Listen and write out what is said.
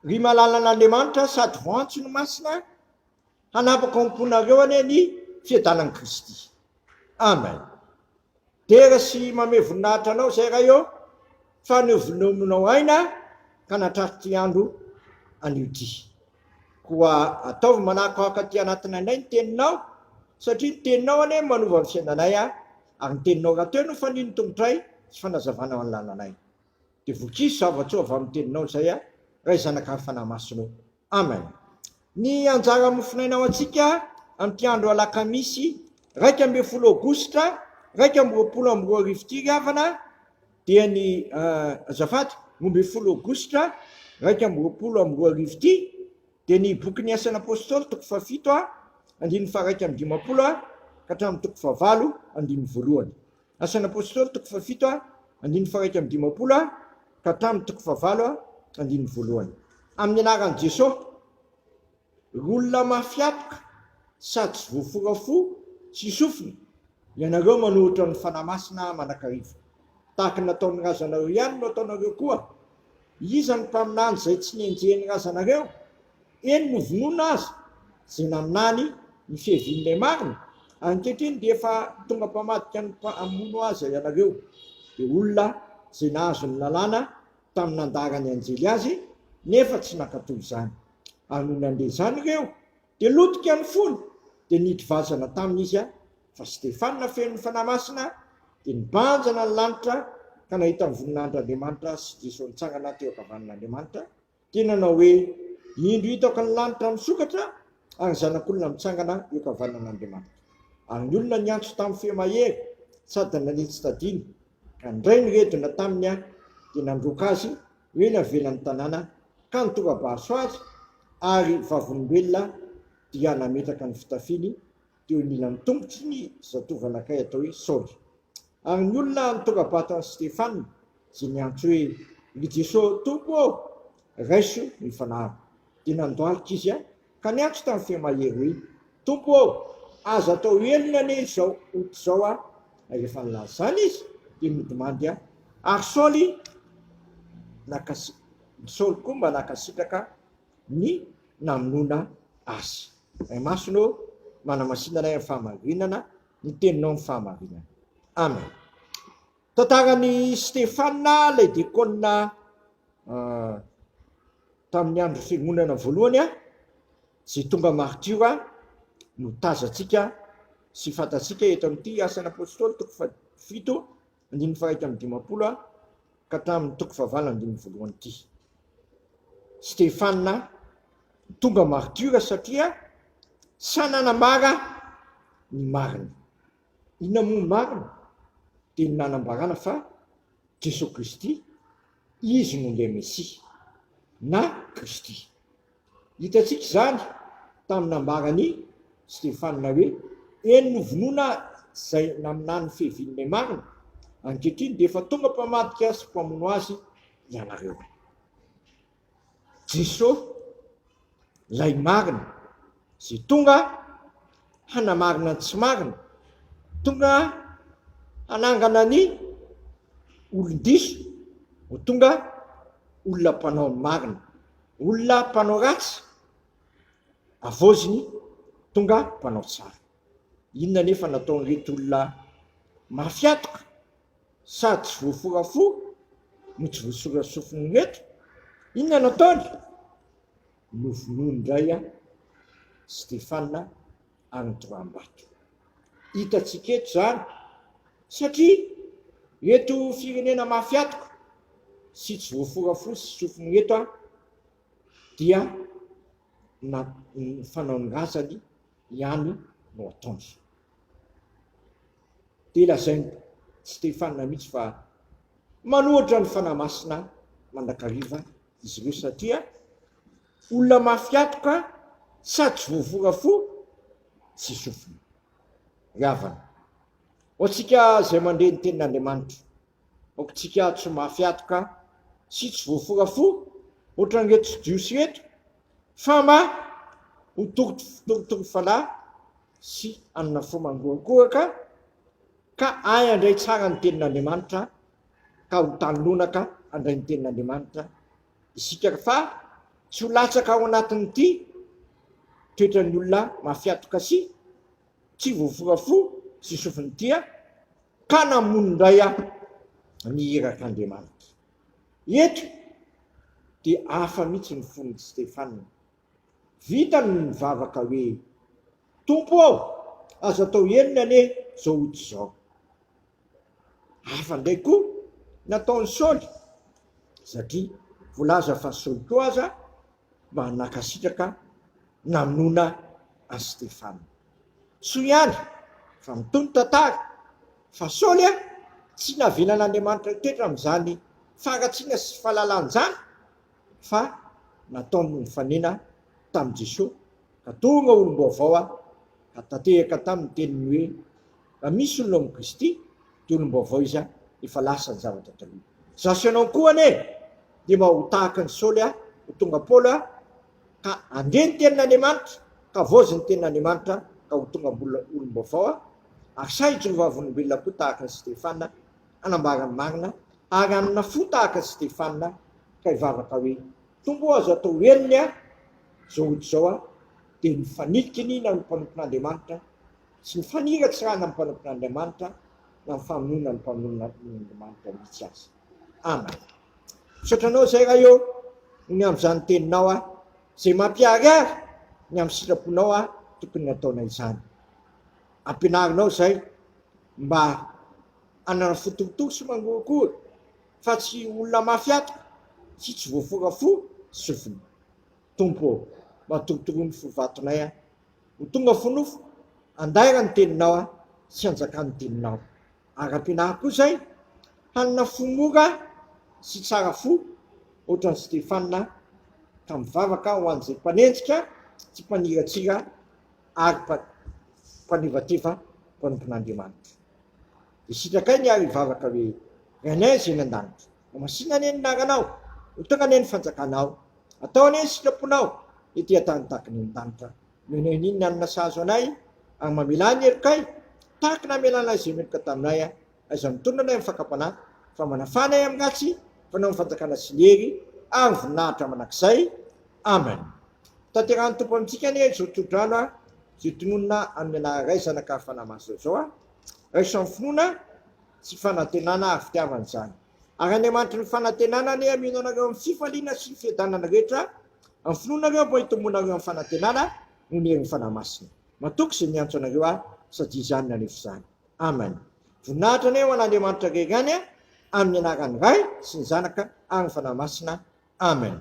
Ry malalan'Andriamanitra sady voantso ny Masina, hanapaka ao am-ponareo anie ny fiadanan'i Kristy. Amen. Dera sy mamehy voninahitra Anao izay Ray ô, fa novenominao aina ka natrar'ity andro anio ity. Koa ataovy manakoako aty anatin'ainay ny Teninao, satria ny Teninao anie manova ny fiainanay, ary ny Teninao rahateo no fanian'ny tongotray sy fanazavanao ny lalanay. Dia vokizo zavatrao avy amin'ny teninao izay aho, Ray, Zanaka ary Fanahy Masina ô. Amen. Ny anjara mofonaina ho antsika amin'ity andro alakamisy iraika ambin'ny folo aogositra iraika amby roapolo amby roa arivo ity ry havana dia ny azafady roa ambin'ny folo aogositra iraika amby roapolo amby roa arivo ity dia ny bokin'ny asana apôstôly toko fahafito a andininy faharaika amin'ny dimampolo a ka hatramin'ny toko fahavalo andininy voalohany Asan'ny Apôstôly toko fahafito andininy faha iraika amby dimampolo ka hatramin'ny toko fahavalo andininy voalohany. Amin'ny anaran'i Jesosy, ry olona mafy apoka sady tsy voafora fo sy sofina, ianareo manoritra ny Fanahy Masina mandrakariva. Tahaka ny nataon'ny razanareo ihany no ataonareo koa. Iza no mpaminany izay tsy nenjehin'ny razanareo? Eny novonoina aza izay nanany ny fiavian'ilay marina, ankehitriny dia efa tonga mpamadika ny mpamono aza ianareo. Dia olona izay nahazo ny lalàna tamin'ny nandaharan'ny anjely azy nefa tsy nankatò izany. Ary nony handre izany ireo dia lotika ny fony dia nidry vazana taminy izy, fa Stefana feno ny Fanahy Masina dia nibanjina ny lanitra ka nahita ny voninahindr'Andriamanitra sy Jeso nitsangana teo ankavanan'Andriamanitra, dia nanao hoe, Indro hitako ny lanitra misokatra ary ny Zanak'olona mitsangana eo ankavanan'Andriamanitra. Ary ny olona niantso tamin'ny feo mahery sady nanitsy tadiny, ka nindray ny redona taminy aho, dia nandroaka azy ho eny avelan'ny tanàna, ka nitora-baso azy, ary vavolombelona, dia nametraka ny fitafiny, Teo anilan'ny tongotry ny zatovo-anankiray atao hoe Saoly ary ny olona nitongabata an'i Stefana, izay niantso hoe, Ry Jesosy Tompo ô, raiso ny fanahiko. Dia nandohalika izy ka niantso tamin'ny feo mahery hoe, Tompo ô, aza atao helona anie izao ota izao aho. Rehefa nilaza izany izy, dia nodimandry ahy, ary Saoly, Saoly koa mba nankasitraka ny namonoana azy. Ray Masina ô, manamasina anay amin'ny fahamarinana, ny Teninao no fahamarinana. Amen. Tantaran'i Stefana ilay dekôna tamin'ny andro fiangonana voalohany izay tonga martiora no tazantsika sy fantatsika eto amin'ity asan'ny apôstôly toko fahafito Andininy faha-iraika amby dimampolo a ka tamin'ny toko fahavalo andininy voalohany ity. Stefana tonga martiora satria sa nanambara ny marina. Inona moa ny marina? Dia ny nanambarana fa Jesoa Kristy, Izy no ilay Mesia, na Kristy. Hitantsika izany tamin'ny nambaran'i Stefana hoe, Eny novonoina izay naminany fehiviny ilay marina, ankehitriny dia efa tonga mpamadika sy mpamono azy ianareo. Jesosy ilay marina, izay tonga hanamarina ny tsy marina, tonga hanangana ny olon-diso ho tonga olona mpanao ny marina. Olona mpanao ratsy havaoziny tonga mpanao tsara. Inona anefa no ataon'ireto olona mafiatoka sady tsy voafora-fo no tsy voasora sofina ireto? Inona no ataony? Novonoiny indray Stefana any Doambato. Hitantsika eto izany satria eto firenena mafy atoka sy tsy voafora fo sy sofina eto an dia na ny fanao ny razany ihany no ataony. Dia lazain'i Stefana mihitsy fa manohitra ny Fanahy Masina mandrakariva izy ireo satria. Olona mafy hatoka sady tsy voavonga fo tsy sofina. Ry havana, ho antsika izay mandre ny Tenin'Andriamanitra, aokantsika tsy ho mafy hatoka sy tsy voafora fo hoatran'ireto Jiosy ireto fa mba ho torotoro fanahy sy hanana fo mangorakoraka ka hahay handray tsara ny Tenin'Andriamanitra ka ho tany lonaka handray ny Tenin'Andriamanitra isika fa tsy ho latsaka ao anatin'ity toetran'ny olona mafiatoka sy tsy voafoka fo sy sofiny ity aho ka namono indray aho ny irak'Andriamanitra. Eto dia hafa mihitsy ny fon'i Stefana. Vitany ny mivavaka hoe, Tompo ô, aza atao henony anie izao ota izao. Hafa indray koa ny ataon'i Saoly, satria voalaza fa Saoly koa aza mba nankasitraka namonoana an'i Stefana. Soa ihany fa mitohy ny tantara fa Saoly tsy navelan'Andriamanitra hitoetra amin'izany fangatsiana sy fahalalan-jana, fa nataony nifanena tamin'i Jesoa ka tonga olom-baovao aho ka tanteraka taminy ny teniny hoe, raha misy olona ao amin'i Kristy dia olom-baovao izy aho, efa lasa ny zavatra taloha. Izaho sy ianao koa anie dia mba ho tahaka an'i Saoly aho, ho tonga Paoly aho ka handre ny tenin'Andriamanitra ka havaozin'ny tenin'Andriamanitra ka ho tonga olom-baovao aho, ary sahy hijono vavolombelona koa tahaka an'i Stefana. hanambara ny marina, ary hanana fo tahaka an'i Stefana ka hivavaka hoe, Tompo ô, aza atao henony aho izao ody izao aho, dia ny fanilika iniana amin'ny mpanompon'Andriamanitra, tsy ny faniratsirana ny mpanompon'Andriamanitra na ny famonoana ny mpanompon'Andriamanitra mihitsy aza. Amen. Misaotra Anao izay Ray ô, ny amin'izany Teninao aho, izay mampiharihary ny amin'ny sitraponao aho tokony hataona izany. Ampianarinao izay mba ananan'ny fotontolo sy mangorokory fa tsy olona mafy ato sy tsy voafora fo sofina. Tompo ô, matorotoro ny fo vatonay aho. Ho tonga fo nofo, andaira ny teninao aho sy anjakan' ny teninao. Ara-pinahy koa izay, hanana fo mora sy tsara fo hoatran'i Stefana ka mivavaka ho an'izay mpanenjika sy mpaniratsira ary mpanevateva mpanompon'Andriamanitra. Dia sitrakay ny ahy hivavaka hoe, Rainay izay any an-danitra, homasina anie ny naranao, ho tonga anie ny fanjakanao, atao anie ny sitraponao ety an-tany tahaka ny any an-danitra, nohonay an'iny ny hanina sahazo anay, ary mamelà ny helokay tahaka namelanay izay meloka taminay aho. Aiza mitolona anay amin'ny fakam-panahy, fa manafana ahy amin'ny ratsy, fanao ny fanjakana sy ny hery ary ny voninahitra mandrakizay. Amen. Hotanterahan'ny Tompo amintsika anie izao tsodrano ary izay tononina amin'ny anarany Ray, Zanaka ary Fanahy Masina izao a! Raiso amin'ny finoana sy fanantenana ary fitiavana izany. Ary Andriamanitry ny fanantenana anie hameno anareo amin'ny fifaliana sy ny fiadanana rehetra amin'ny finoanareo mba hitomboanareo amin'ny fanantenana noho ny herin'ny Fanahy Masina. Matoky izay miantso anareo aho, sady izany nanefy izany. Amen. Voninahitra anie ho an'Andriamanitra rery any amin'ny anaran'ny Ray sy ny Zanaka ary ny Fanahy Masina. Amen.